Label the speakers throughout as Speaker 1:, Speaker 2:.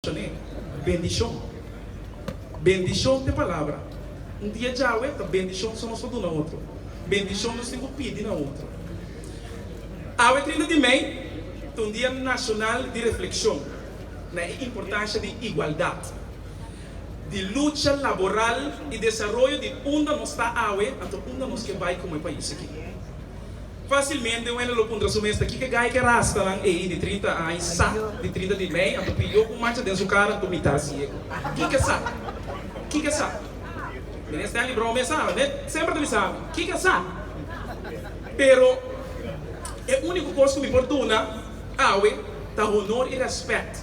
Speaker 1: Shoney, Bendishon. Bendishon ta e palabra. Un dia djawe ta bendishon so nos ta duna otro. Bendishon nos tin ku pidi na otro. Awe trinta di mei ta un dia nashonal di reflekshon na e importansha di igualdat, di lucha laboral i desaroyo di unda nos ta awe anto unda nos ke bai komo e pais aki. Facilmente un hende lo puntra su mes ta kiko gai ke rastanan ei di trinta aña sa di trinta di mei anto pidió un mancha den su cara anto mitá siego. Kiko sa? Kiko sa? Mene Stanley Brown mes sa, mene semper ta mi sa kiko sa. Pero e único cos cu mi por duna awe ta honor y respect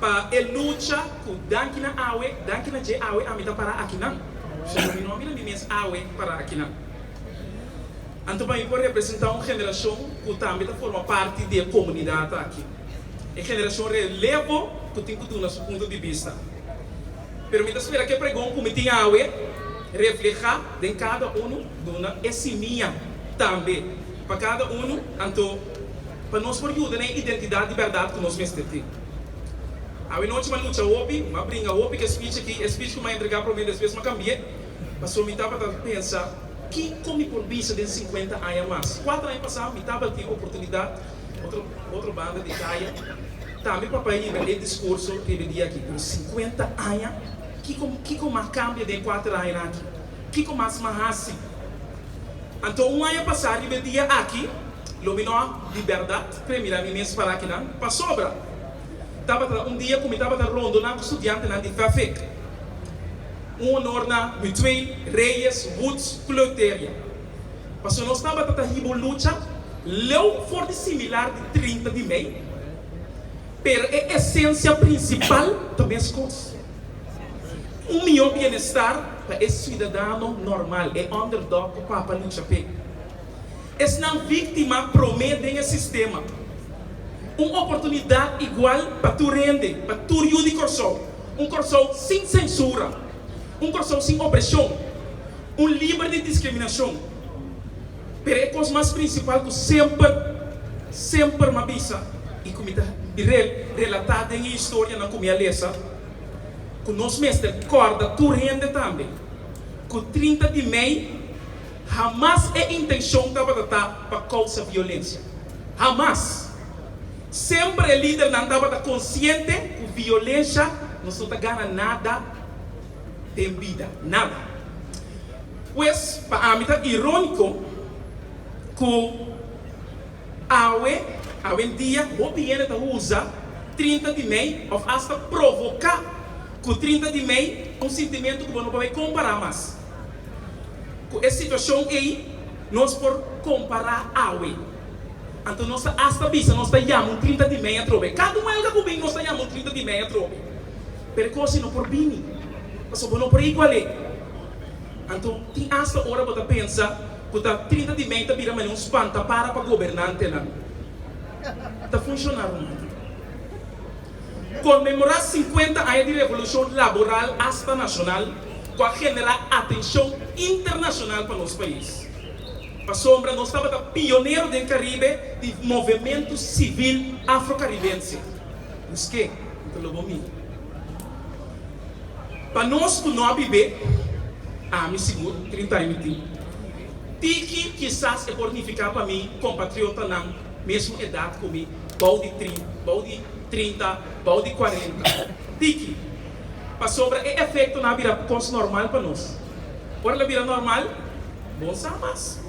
Speaker 1: pa e lucha cu danki na awe, danki na dje awe ami ta para akinan. Solo mi no a mira mi mes awe para akinan. Anto bay por representa un generacion cu tambe ta forma parti di e comunidad aki. E generacion relevo cu tin cu duna su punto di bista. Pero mi ta spera cu e pregon cu mi tin awe refleha den cada unu duna e simia tambe pa cada unu anto pa nos por yuda na e identidad di berdad cu nos mester tin. Awe nochi m'a lucha hopi, m'a bringa hopi cu e speech aki, e speech cu m'a entrega prome despues m'a cambie. Pasobra mi tabata ta pensa, Kiko mi por bisa den sinkuenta aña mas? Kuater aña pasá mi tabata tin oportunidat otro otro banda di kaya tambe pa pahinta e diskurso riba di aki. Pero sinkuenta aña? Kiko kiko m'a kambia den kuater añanan aki? Kiko mas m'a hasi? Anto un aña pasá riba e dia aki lo mi no a di bèrdat kre mira mi mes para kinan. Pasobra Tabata un dia ku mi tabata rondoná ku studiantenan di FAFEC. Un honor na Mutueel, Reyes, Woods, ku Leuteria. Pasobra nos tabata ta hiba un lucha leu for di similar di trinta di mei, pero e esensia prinsipal ta meskos, un mihó bienestar pa e siudadano normal, e underdog ku papa lucha p'e. Esnan víktima promé den e sistema. Un oportunidat igual pa tur hende, pa tur yu di Kòrsou. Un Kòrsou sin sensura. Un Kòrsou sin opreshon. Un liber di diskriminashon. Pero e kos mas prinsipal ku semper, semper mi a bisa i ku mi ta relatá den e historianan ku mi a lesa, ku nos mester kòrda tur hende tambe ku trinta di mei Hamas e intencion tabata ta pa causa violencia. Hamas. Semper e lidernan tabata consciente cu violencia nos no ta gana nada den bida. Nada. Pues pa ami ta ironico cu awe awendia hopi hende ta usa trinta di mei of hasta provoca cu trinta di mei un sintimento cu bo no por bay compara mas. Ku e situashon ei nos por kompará awe. Anto nos ta asta bisa nos ta yama un trinta di mei atrobe. Kada un huelga ku bin nos ta yama un trinta di mei atrobe. Pero e kos ei no por bini, pasobra bo no por igual'é. Anto tin asta ora bo ta pensa ku ta trinta di mei ta bira mane un spantapara pa gobernantenan. Ta funshoná romántico. Konmemorá sinkuenta aña di revolushon laboral asta nashonal ku a generá atenshon internashonal pa nos pais. Pasobra nos tabata pionero den Karibe di movementu sibil afrokaribense. Busqué, N ta lo bo mi. Pa nos ku no a bib'é, ami sigur, trinta aña mi tin. Tiki kisas e por nifiká pa mi kompatriotanan mesmu edat ku mi. bou di tri, bou di trinta, bou di kuarenta. Tiki? Pasobra e efektonan a bira kos normal pa nos. Ora el a bira normal, bon sa mas.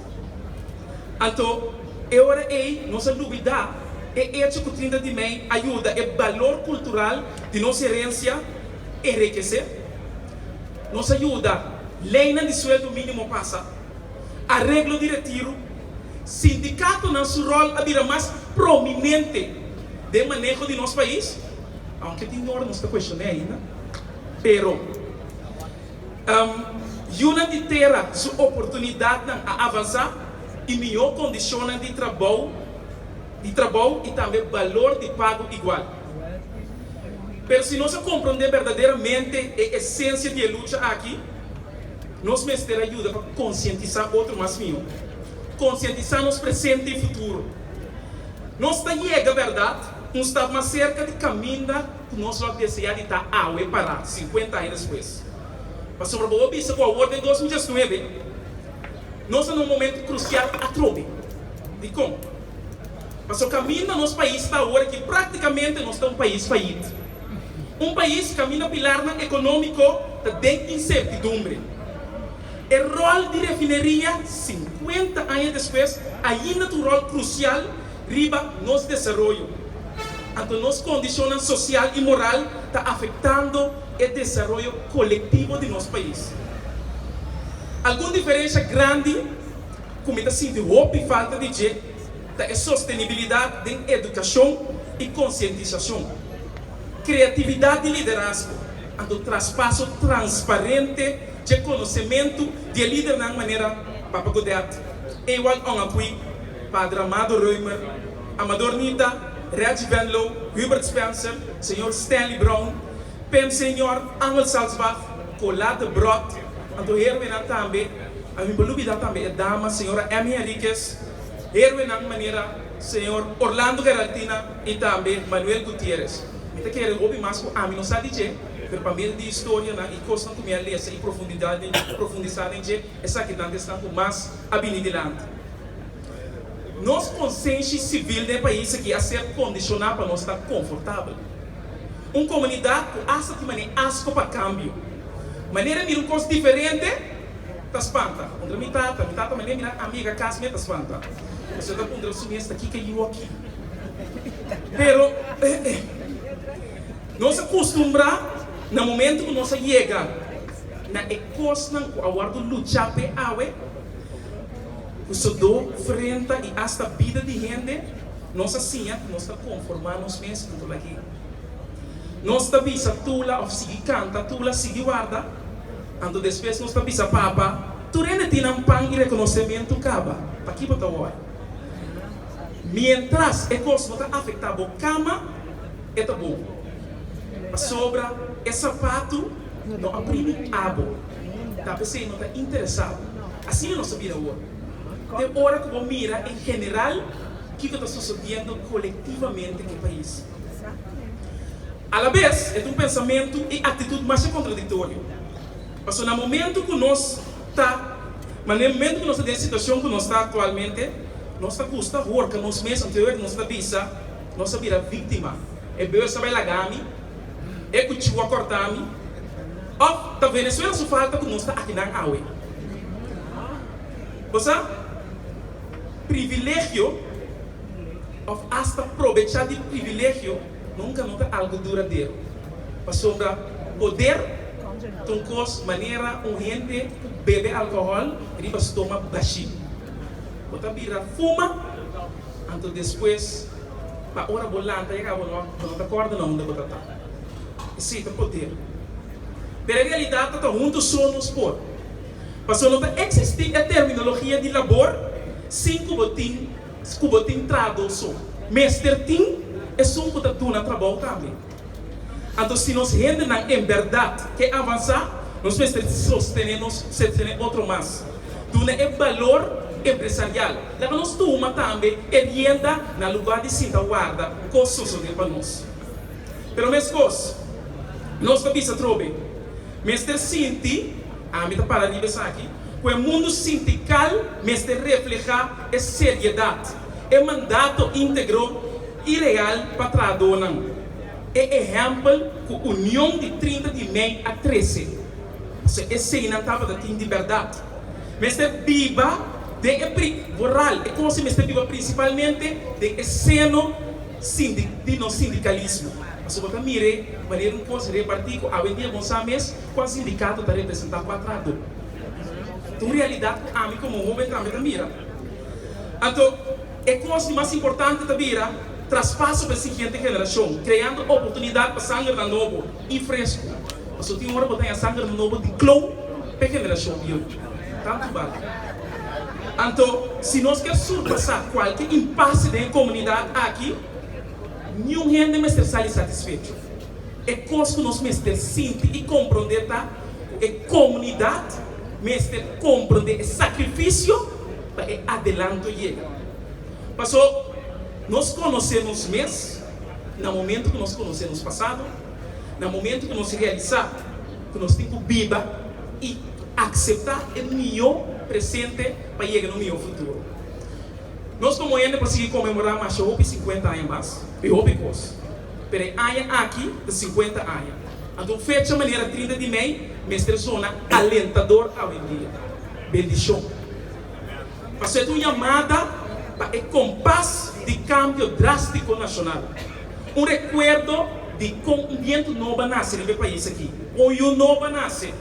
Speaker 1: Anto, e ora ei nos a lubidá e echo ku trinta di mei a yuda e balor kultural di nos herensia enrikesé. Nos a yuda leinan di sueldo mínimo pasa. Areglo di retiru, Sindikatonan su rol a bira mas prominente den maneho di nos pais, aunke tin yor nos ta kueshoné ainda, pero yunan di tera su oportunidatnan a avansá i mihó kondishonnan di trabou di trabou i tambe balor di pago igual. Pero si nos a komprondé berdaderamente e esensia di e lucha aki, Nos mester a yuda pa konsientisá otro mas mihó, konsientisá nos presente i futuro. Nos ta yega bèrdat un stap mas serka di kaminda ku nos lo a deseá di ta awe pará, sinkuenta aña despues. Pasobra bo a bisa ku awor den dos mil diesnuebe nos ta na un momentu krusial atrobe. Dikon? Pasobra kaminda nos pais ta awor aki praktikamente nos ta un pais fayit. Un pais kaminda pilarnan ekonómiko ta den insertidumbre. E ròl di refineria sinkuenta aña despues ainda ta un ròl krusial riba nos desaroyo. Anto nos kondishonnan sosial i moral ta afektando e desaroyo kolektivo di nos pais. Algun diferensha grandi ku mi ta sinti hopi falta di dje. Ta e sostenibilidat den edukashon i konsientisashon. Kreatividat di liderazgo a do traspaso transparente dje konosementu di e lidernan manera Papa Godet, Ewald Ongapuy, Padre Amado Reumer, Amador Nita, Reggie Venlow, Hubert Spencer, Señor Stanley Brown, Pem Senior, Arnold Salzbach, Colas de Brot, anto heroenan tambe, a bin por lubida tambe e dama Señora Emmy Henriquez, Heroenan manera Señor Orlando Geraltina y tambe Manuel Gutierrez. Mi ta kere hopi mas cu ami no sa di dje, pero pa medio di historianan y cosnan cu mi a lesa y profundisa den dje, esakinan ta esnan cu mas a bini dilanti. Nos consenshi civil den e pais aki a ser condiciona pa nos ta confortabel. Un comunidad cu asta tin mane asco pa cambio. Manera mira un cos diferente. Ta spanta, ta puntra mi tata. Mi tata mende minan amiga cas me ta spanta. Esnan ta puntra su mes ta kiko yu aki. Pero eh eh. Nos a custumbrá na momento cu nos a yega na e cosnan cu a wordo luchá p'e awe, cu sudó, frenta y hasta bida di hende, nos a siña cu nos ta conformá nos mes punto lag'é. Nos ta bisa tula of sigui canta tula, sigui warda. Anto despues nos ta bisa Papa, tur hende tin nan pan i rekonosementu kaba, p'aki bo ta wòrdu? Miéntras e kos no ta afektá bo kama, e ta bon. Pasobra e sapatu no a primi abo, ta p'esei no ta interesá bo. Asina nos ta bira ora. Te ora ku bo mira en general kiko ta sosodiendo kolektivamente ku e pais. Alabes, e ta un pensamentu i aktitut masha kontradiktorio. Pasobra na momentu ku nos ta, manera e momentu ku nos ta den e situashon ku nos ta aktualmente, nos ta gusta horka nos mes anto e ora ku nos ta bisa, nos a bira viktima, e beurs a bai laga mi, e kuchiu a kòrtá mi, òf ta Venezuela su falta ku nos ta aki nan awe. Bo sa, privilegio òf asta probechá di privilegio, Nunka no ta algu duradero, pasobra poder ta un kos manera un hende ku bebe alkohòl riba su toma bashí. Bo ta bira fuma, anto despues pa ora bo lanta yega bo no bo no ta kòrda na unda bo ta ta. Esei ta poder. Pero e realidat ta ta huntu so nos por. Pasobra no ta eksistí e terminologia di labor sin ku bo tin. Scu bo tin traha dos son, mester tin e son cu ta duna trabou tambe. Anto si nos hendenan en berdad ke avansa, nos mester sostene nos, sostene otro mas. Duna e balor empresarial. Laga nos tuma tambe e rienda na lugar di sinta warda cu cos sosode pa nos. Pero mescos, nos lo bisa trobe, mester sinti, ami ta para riba esaki, cu e mundo sintical mester refleha e seriedat, e mandato integro i real pa trahadonan, e ehèmpel ku union di trinta di mei a trese, pasobra eseinan tabata tin di bèrdat, mester biba den e pri, vooral e kos ei mester biba prinsipalmente den e seno sindi, di nos sindikalismo, pasobra bo ta mire manera un kos repartí ku awendia bon sa mes kual sindikato ta representá kua trahadó. Un realidat ku ami komo hóben tambe ta mira. Anto, e kos di mas importante ta bira traspaso pa e siguiente generashon, kreando oportunidat pa sangernan nobo i fresku. Pasobra tin ora bo ta haña sangernan nobo di klou pa e generashon bieu. Tantu bal. Anto, si nos kier surpasá kualke impase den e komunidat aki, niun hende mester sali satisfecho. E kos ku nos mester sinti i komprondé ta. ku e komunidat mester komprendé e sakrifisio pa e adelanto yega. Paso, nos konosé nos mes na momentu ku nos konosé nos pasado, na momentu ku nos realisá ku nos tin ku biba i akseptá e mihó presente pa yega na un mihó futuro. Nos komo hende por sigui konmemorá masha hopi sinkuenta aña mas, e hopi kos, pero e aña aki ta sinkuenta aña. Anto un fecha manera trinta di mei mester sona alentador awendia. Bendishon. Paso e ta un yamada pa e kompas di kambio drástiko nashonal. Un rekuerdo di kon un bientu nobo a nase riba e pais aki, un yu nobo a nase.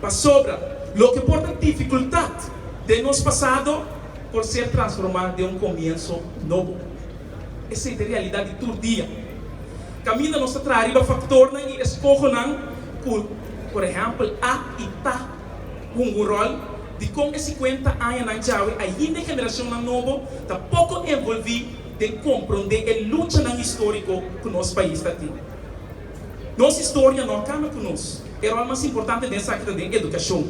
Speaker 1: Pasobra loke por ta difikultat den nos pasado por ser transformá den un komienso nobo. Esei ta e realidat di tur dia. Kaminda nos ta traha riba faktornan i eskohonan ku, por ehèmpel, a i ta hunga un ròl di kon e sikuenta añanan djawe ainda e generashonnan nobo ta poko envolví den komprondé e luchanan históriko ku nos pais ta tin. Nos historia no a kamba ku nos. E ròl mas importante den esaki ta den edukashon.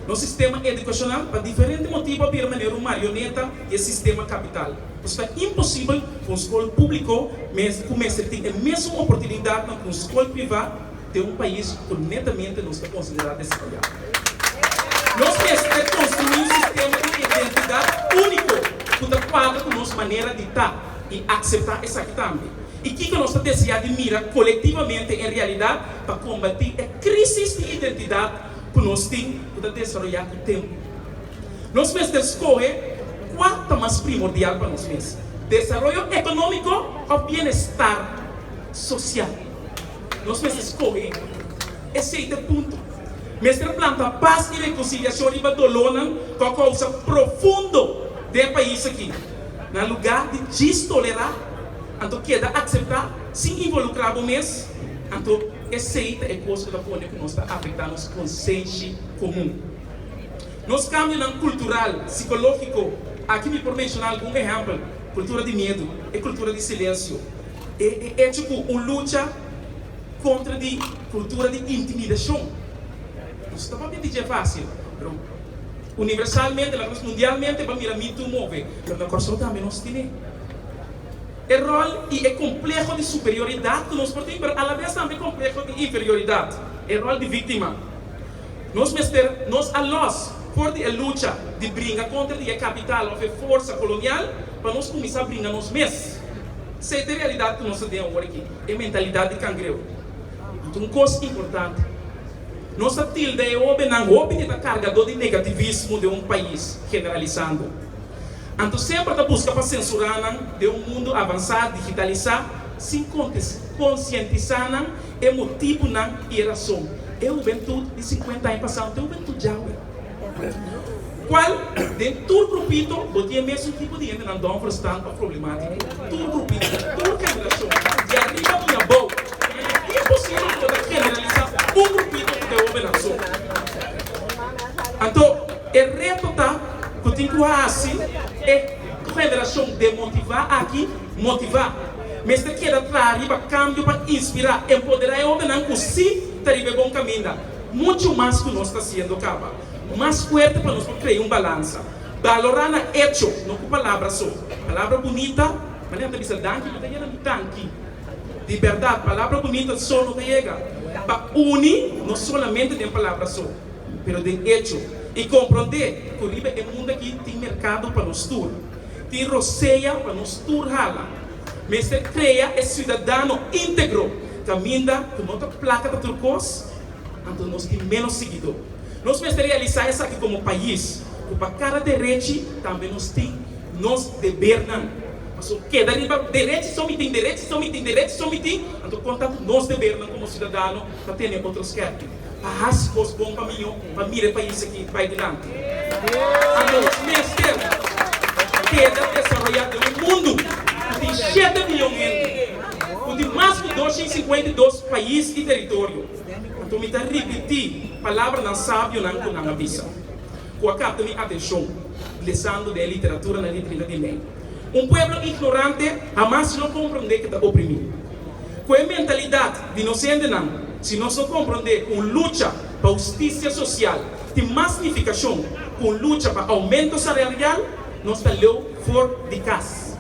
Speaker 1: Nos sistema edukashonal pa diferente motibu a bira manera un marioneta di e sistema kapital. Esta imposibel ku un skol públiko mester ku mester tin e mesun oportunidatnan ku un skol privá den un pais ku netamente nos ta konsiderá desarroyá. Nos mester konstruí un sistema di identidat úniko ku ta kuadra ku nos manera di ta i akseptá esaki tambe i kiko nos ta deseá di mira kolektivamente en realidat pa kombatí e krísis di identidat ku nos tin ku ta desaroyá ku tempu. Nos mester skohe kua ta mas primordial pa nos mes, desaroyo ekonómiko òf bienestar sosial. Nos mester skohe esei ta e punto. Mester planta pas i rekonsiliashon riba dolónan ku a kousa profundo den e pais aki. Na lugá di djis tolerá, anto keda akseptá sin involukrá bo mes. Anto esei ta e kos ku ta pone ku nos ta afektá nos konsenshi komun. Nos kambionan kultural, sikológiko, aki mi por menshona algun ehèmpel, kultura di miedu, e kultura di silensio, e e echo ku un lucha kontra di kultura di intimidashon. No ta papia di dje fásil, pero universalmente, laga nos mundialmente ban mira mi tu move, pero na Kòrsou tambe nos tine e ròl i e kompleho di superioridat ku nos por tin, pero alabes tambe kompleho di inferioridat, e ròl di víktima. Nos mester nos a lòs for di e lucha di bringa kontra di e kapital òf e forsa kolonial pa nos kuminsá bringa nos mes. Sei ta e realidat ku nos ta den awor aki, e mentalidat di kangreho. I ta un kos importante, nos ta tilda e hóbennan hopi di ta kargadó di negativismo den un pais, generalisando. Anto semper ta buska pa sensurá nan den un mundu avansá, digitalisá, sin konsientisá nan E motibunan i e rason. E hubentud di sinkuenta aña pasá no ta e hubentud dja awe. Kual den tur grupito bo tin e mesun tipo di hendenan dònfer, stant òf problemátiko. Tur grupito, tur generashon, di ariba mi abou. I ta bien posibel ku bo ta generalisá un grupito ku ta e hobennan so. Anto e reto ta ku tin ku hasi e generashon demotivá aki motivá. Mester keda kla riba kambio pa inspirá i empoderá e hobennan ku sí ta riba e bon kaminda. Muchu mas ku nos ta hasiendo kaba mas fuerte pa nos por krea un balansa. Balorá nan echo, no ku palabra so. Palabra bunita, ma nan ta bisa danki, no ta yega nan danki. Di bèrdat, palabra bunita so no ta yega pa uni nos solamente den palabra so, pero den echo. I komprondé ku riba e mundu akí tin merkado pa nos tur. Tin rosea pa nos tur hala. Mester krea e siudadano integro kaminda ku no ta plaka pa tur kos, anto nos tin ménos siguidó. Nos mester realisá esaki komo pais, ku pa kada derechi tambe nos tin nos debernan. Paso keda riba derechi so mi tin, derechi so mi tin, derechi so mi tin, anto konta ku nos debernan komo siudadano ta tene otro skèpi. A hasi kos bon pa miño pa mira e pais aki bai dilanti. Anto nos mester keda desaroyá den un mundu ku tin shete biyon hende, ku tin mas ku dosha i sinkuenta i dos pais i teritorio. Anto mi ta ripití palabranan sabionan ku nan a bisa, ku a kapta mi atenshon lesando den e literatura na Riba Riba di Mei, Un pueblo ignorante hamas lo komprondé ku ta oprimí. Ku e mentalidat di nos hendenan, si nos no komprondé ku un lucha pa hustisia sosial tin mas nifikashon ku un lucha pa oumento sararial, nos ta leu for di kas.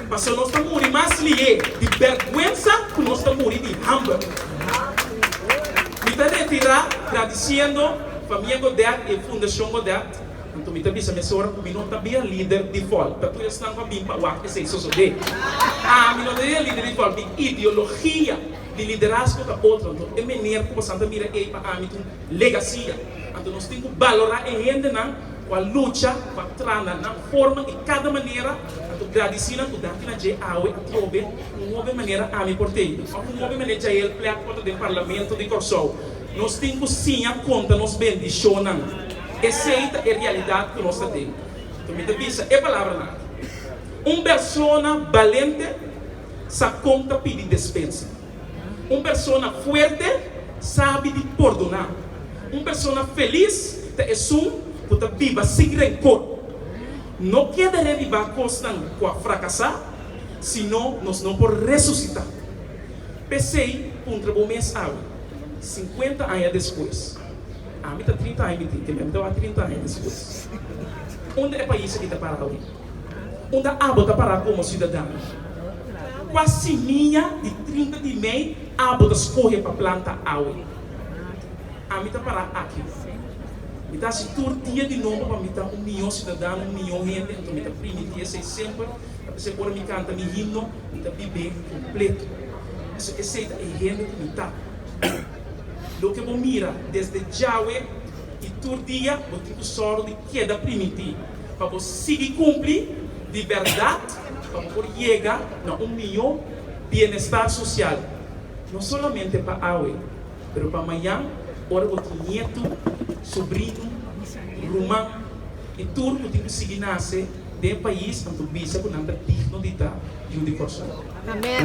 Speaker 1: Paso nos ta muri mas lihé di bèrgwensa ku nos ta muri di hamber. Mi ta retirá gradisiendo Famia Godet i e Fundashon Godet, Anto mi ta bisa mesora ku mi no ta bin e lider default, ta tur esnan ku a bin pa wak esei sosodé. Ami no ta bin e lider default, mi ideologia di liderazgo ta otro, anto e maner ku pasan ta mira ei pa ami ta un legasia. Anto nos tin ku balorá e hendenan ku a lucha pa tra na nan forma i kada manera, anto gradisí nan ku daki na dje awe atrobe un hopi manera ami por tei un òf un hopi mané Jael Plek otro den Parlamento di Kòrsou. Nos tin ku siña konta nos bendishonnan. Esei ta e realidat ku nos ta den. Ku mi ta bisa e palabranan, un persona balente sa kon ta pidi despensa. Un persona fuerte sabi di pordoná. Un persona felis ta esun ku ta biba sin renkor. No keda revivá kosnan ku a frakasá, sino nos no por resusitá. P'esei puntra bo mes awe, sinkuenta aña despues. Ami ta trinta aña di tin te, mi ami tabata trinta aña di siu. Unda e pais aki ta para awe? Unda abo ta para komo siudadan? Kua simiña di trinta di mei abo ta skohe pa planta awe? Ami ta para aki. Mi ta hasi tur dia di nobo pa mi ta un mihó siudadan, un mihó hende, anto mi ta primi di esei semper. Ta p'esei ora mi kanta mi himno, mi ta bib'é kompleto. Pasobra esei ta e hende ku mi ta. Loke bo mira desde djawe i tur dia bo tin ku sòru di keda primintí pa bo sigui kumpli di bèrdat pa bo por yega na un mihó bienestar sosial, no solamente pa awe pero pa mayan ora bo tin nietu, subrinu, ruman i tur ku tin ku sigui nase den e pais nan ku bisa ku nan ta digno di ta yu di Kòrsou. Amen.